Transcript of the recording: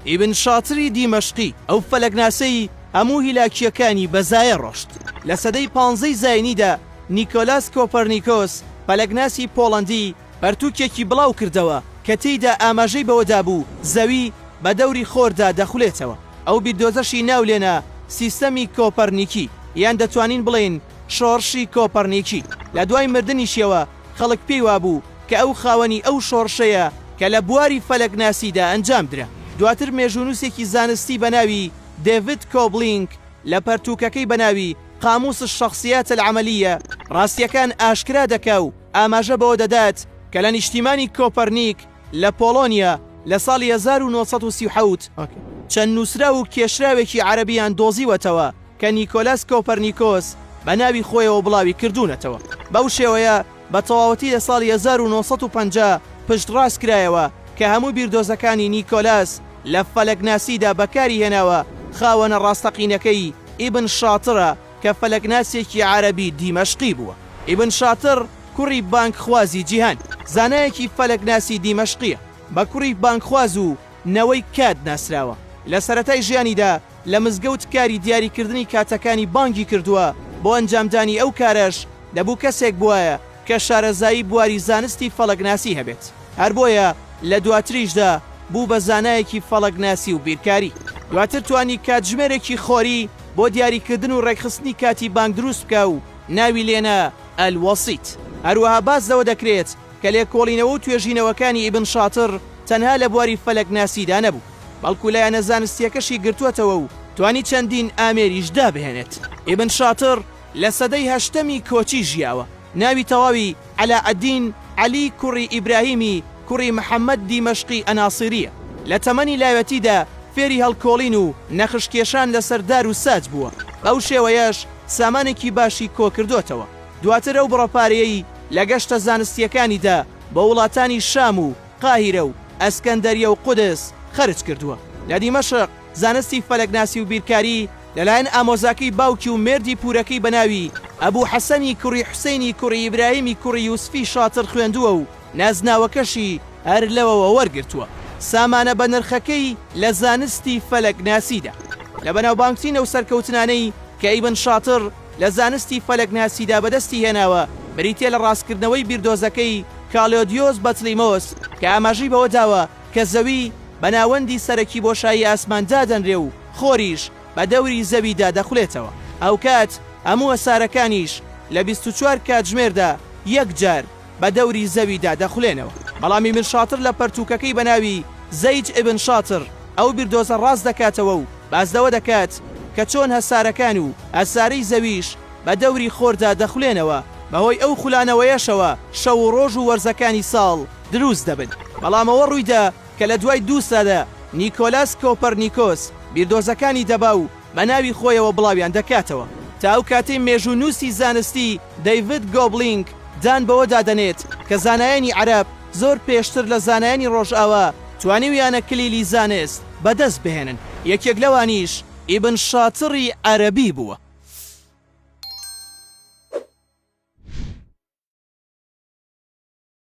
ئیبن شاتری دیمەشقی، ئەو فەلەکناسەی هەموو هیلاکییەکانی بە زایە ڕۆشت، لە سەدەی پانزەی زاینیدا نیکۆلاس کۆپەرنیکۆس، فەلەکناسی پۆڵەندی، پەرتووکێکی بڵاو کردەوە کە تێیدا ئاماژەی بەوە دابوو زەوی بە دەوری خۆردا دەخولێتەوە. ئەو بیردۆزەشی ناو لێنا سیستەمی کۆپەرنیکی، یان دەتوانین بڵێین شۆڕشی کۆپەرنیکی. لە دوای مردنیشیەوە، خەڵک پێی وابوو کە ئەو خاوەنی ئەو شۆڕشەیە کە لە بواری فەلەکناسیدا ئەنجام درا. دواتر مێژوونووسێکی زانستی بە ناوی دێڤید کۆبلینک لە پەرتووکەکەی بە ناوی قاموس الشخصیات العملیە ڕاستییەکان ئاشکرا دەکا و ئاماژە بەوە دەدات کە لە نیشتیمانی کۆپەرنیک لە پۆڵۆنیا لە ساڵی هەزار و نۆ سەد و سی و حەوت چەند نووسراو و کێشراوێکی عەرەبییان دۆزیوەتەوە کە نیکۆلاس کۆپەرنیکۆس بە ناوی خۆیەوە بڵاوی کردوونەتەوە. بەو شێوەیە بە تەواوەتی لە ساڵی هەزار و نۆ سەد و پەنجا پشتڕاست کرایەوە کە هەموو بیردۆزەکانی نیکۆلاس لە فەلەکناسیدا بەکاری هێناوە خاوەنە ڕاستەقینەکەی ئیبن شاترە، کە فەلەکناسێکی عەرەبی دیمەشقی بووە. ئیبن شاتڕ، کوڕی بانگخوازی جیهان، زانایەکی فەلەکناسی دیمەشقییە، بە کوڕی بانگخواز و نەوەی کات ناسراوە. لە سەرەتای ژیانیدا لە مزگەوت کاری دیاریکردنی کاتەکانی بانگی کردووە، بۆ ئەنجامدانی ئەو کارەش دەبوو کەسێک بوایە، کە شارەزایی بواری زانستی فەڵەکناسی هەبێت، هەر بۆیە لە دواتریشدا بوو بە زانایەکی فەڵەکناسی و بیرکاری. دواتر توانی کاتژمێرێکی خۆری بۆ دیاریکردن و ڕێکخستنی کاتی بانگ دروست بکا و ناوی لێ نا، الوسیط. هەروەها باس لەوە دەکرێت کە لێکۆڵینەوە و توێژینەوەکانی ئیبن شاتڕ تەنها لە بواری فەلەکناسیدا نەبوو، بەڵکو لایەنە زانستییەکەشی گرتووەتەوە و توانی چەندین ئامێریش دابهێنێت. ئیبن شاتڕ، لە سەدەی هەشتەمی کۆچی ژیاوە. ناوی تەواوی، عەلائەدین عەلی کوڕی ئیبراهیمی کوڕی محەمەد دیمەشقی ئەناسیرییە. لە تەمەنی لاوێتیدا فێری هەڵکۆڵین و نەخشکێشان لەسەر دار و ساج بووە، بەو شێوەیەش سامانێکی باشی کۆکردۆتەوە. دواتر ئەو بڕە پارەیەی لە گەشتە زانستییەکانیدا بۆ وڵاتانی شام و قاهیرە و ئەسکەندەریە و قودس خەرج کردووە. لە دیمەشق زانستی فەلەکناسی و بیرکاری لەلایەن ئامۆزاکەی باوکی و مێردی پوورەکەی بە ناوی، ئەبوو حەسەنی کوڕی حوسەینی کوڕی ئیبراهیمی کوڕی یوسفی شاتر خوێندووە و نازناوەکەشی هەر لەوەوە وەرگرتووە. سامانە بەنرخەکەی لە زانستی فەلەکناسیدا لە بەناوبانگترینە و سەرکەوتنانەی کە ئیبن شاتر لە زانستی فەلەکناسیدا بەدەستی هێناوە بریتییە لە ڕاستکردنەوەی بیردۆزەکەی کالۆدیۆس بەتلیمۆس کە ئاماژەی بەوە داوە کە زەوی بە ناوەندی سەرەکی بۆشایی ئاسمان دادەنرێ و خۆریش بە دەوری زەویدا دەخولێتەوە، هاوکات هەموو هەسارەکانیش لە بیست و چوار کاتژمێردا یەک جار بە دەوری زەویدا دەخولێنەوە. بەڵام ئیبن شاطر لە پەرتووکەکەی بە ناوی زەید ئیبن شاطر ئەو بیردۆزە ڕاست دەکاتەوە و باس لەوە دەکات کە چۆن هەسارەکان و هەسارەی زەویش بە دەوری خۆردا دەخولێنەوە، بەهۆی ئەو خولانەوەیەشەوە شەو و ڕۆژ و وەرزەکانی ساڵ دروست دەبن، بەڵام ئەوە ڕوویدا کە لە دوای دوو سەدە نیکۆلاس کۆپەرنیکۆس بیردۆزەکانی دەبا و بە ناوی خۆیەوە بڵاویان دەکاتەوە. تا ئەو کاتەی مێژوونووسی زانستی دەیڤد گۆبلینگ دان بەوەدا دەنێت کە زانایانی عەرەب زۆر پێشتر لە زانایانی ڕۆژئاوا توانیویانە کلیلی زانست بەدەست بهێنن، یەکێک لەوانیش ئیبن شاتڕی عەرەبی بووە.